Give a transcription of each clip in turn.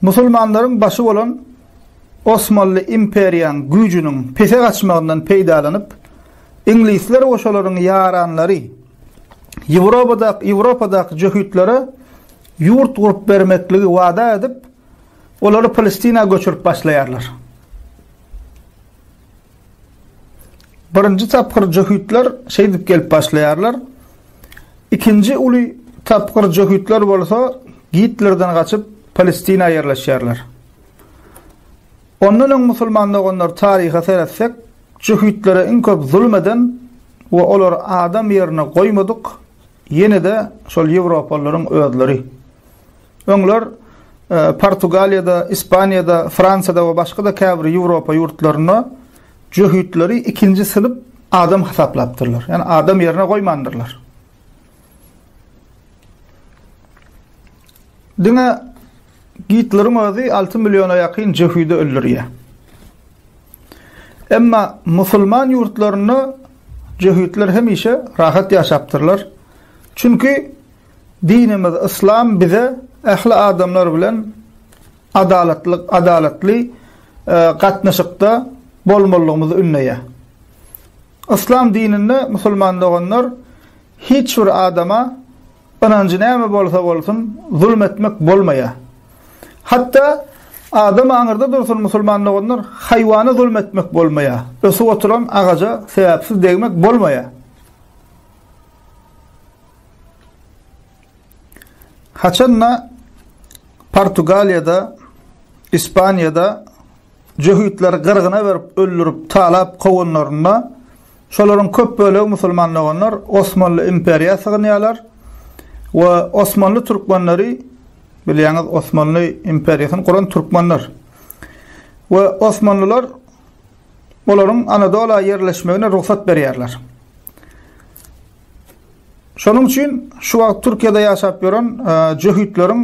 Musulmanlaryň başy bolan Osmanly imperiýaň güýjüniň pese gaçmagyndan peýdalanyp, iňlisler we şolaryň ýaranlary Ýewropadak Ýewropadaky jöhitlere ýurt gurup bermekligi wada edip, olary Palestina göçürip başlaýarlar. Birinji tapgyr jöhitler şeýdip gelip başlaýarlar. Ikinji uly tapgyr jöhitler bolsa Gitlerden gaçyp Palestina ýerleşýärler. Ondan öň musulman doganlar taryha seretsek, jöhitlere iň köp zulum eden we olar adam ýerine goýmadyk ýene-de şol ýewropalylaryň özleri. Öňler Portugaliýada, Ispaniýada, Fransiýada we başga-da käbir Ýewropa ýurtlarynda jöhitleri ikinji synp adam hasaplapdyrlar. Ýani adam ýerine goýmandyrlar. Diňe Gitleriň özi 6 milliona ýakyn jöhidi öldürýär. Emma musulman ýurtlarynda jöhitler hemişe rahat ýaşapdyrlar. Çünki Dinimiz Yslam bize ähli adamlar bilen adalatly adalatly gatnaşykda bolmalygymyzy ündeýär. Yslam dininde musulman doganlar hiç bir adama ynanjy näme bolsa bolsun zulm etmek bolmaýar. Hatda Adam aňyrda dursun musulman doganlar, haýwana zulm etmek bolmaýar. Ösüp oturan agaja sebäpsiz degmek bolmaýar. Haçan-da Portugaliýada, Ispaniýada jöhitleri gyrgyna berip, öldürip, talap kowanlarynda, şolaryň köp bölegi musulman doganlar Osmanly imperiýa sygynýarlar we Osmanly türkmenleri, bilýäňiz, Osmanly imperiýasyny guran türkmenler. We Osmanlylar olaryň Anadola ýerleşmegine rugsat berýärler. Şonuň üçin şu wagt Türkiýede ýaşap ýören jöhitleriň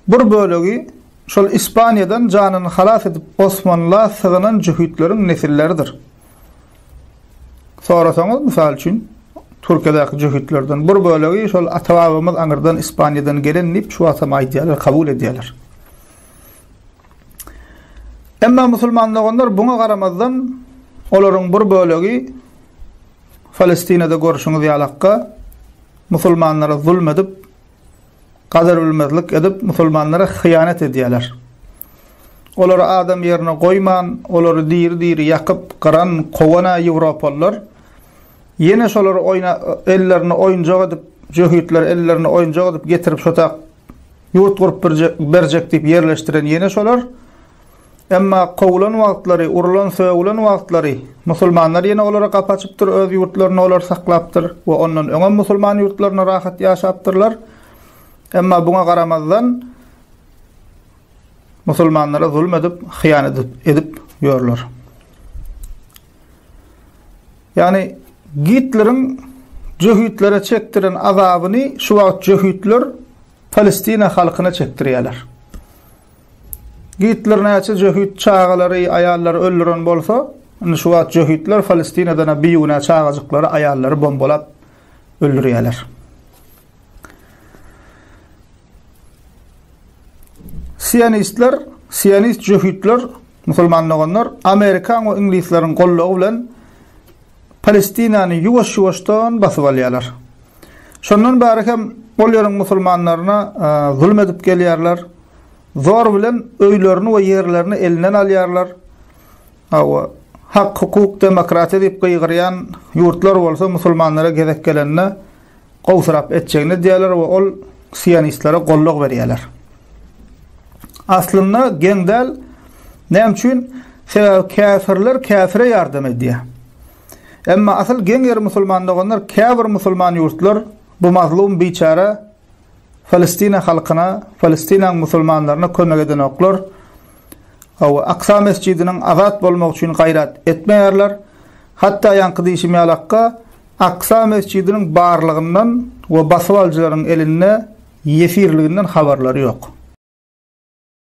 bir bölegi şol Ispaniýadan janyny halas edip Osmanla sygynan jöhitleriň nesilleridir. Sorasaňyz, mysal üçin, Türkiýedäki jöhitlerden bir bölegi şol ata-babamyz aňyrdan Ispaniýadan gelen diýip şu wagtam aýdýarlar, kabul edýärler. Emma musulman doganlar buňa garamazdan olaryň bir bölegi Palestinada görşüňiz ýalakka musulmanlara zulm edip, gadyrbilmezlik edip musulmanlara hyýanat edýäler. Olary adam ýerine goýman, olary diri-diri ýakyp, gyran, kowan-a ýewropalylar. Ýene şolary oýna ellerini oýunjak edip, jöhitleri ellerini oýunjak edip getirip şotak ýurt gurup berjek diýip ýerleşdiren ýene şolar. Emma kowulan wagtlary, urulan, sögülen wagtlary, musulmanlar ýene olara gapy açypdyr, öz ýurtlarynda olary saklapdyr we ondan öňem musulman ýurtlarynda rahat ýaşapdyrlar. Emma buňa garamazdan, musulmanlara zulum edip, hyýanat edip ýörler. Ýagny Gitleriň jöhütlere çekdiren azabyny şu wagt jöhütler Palestina halkyna çekdirýärler. Gitler näçe jöhit çagalary, aýallary öldüren bolsa, indi şu wagt jöhitler Palestinada-da bigünä çagajyklary, aýallary bombalap öldürýärler. Sionistler, sionist jöhitler, musulman doganlar, Amerikan we iňlisleriň gollugy bilen Palestinany ýuwaş-ýuwaşdan basyp alýarlar. Şondan bäri hem ol ýeriň musulmanlaryna e, zulum edip gelýärler. Zor bilen öýlerini we ýerlerini elinden alýarlar. Hawa, hak, hukuk, demokratiýa diýip gygyrýan ýurtlar bolsa musulmanlara gezek gelende gowsyrap etjegini edýärler we ol sionistlere gollag berýärler. Aslynda geň däl. Näme üçin? Sebäbi käfirler käfire ýardam edýär. Emma asyl geň ýeri musulman doganlar, käbir musulman ýurtlar bu mazlum biçäre Palestina halkyna, Palestinaň musulmanlaryna kömek edenoklar, Awa, Aksa mesjidiniň azat bolmagy üçin gaýrat etmeýärler. Hatda ýaňky diýşim ýalakka, Aksa mesjidiniň barlygyndan we basybalyjylaryň elinde ýesirliginden habarlary ýok.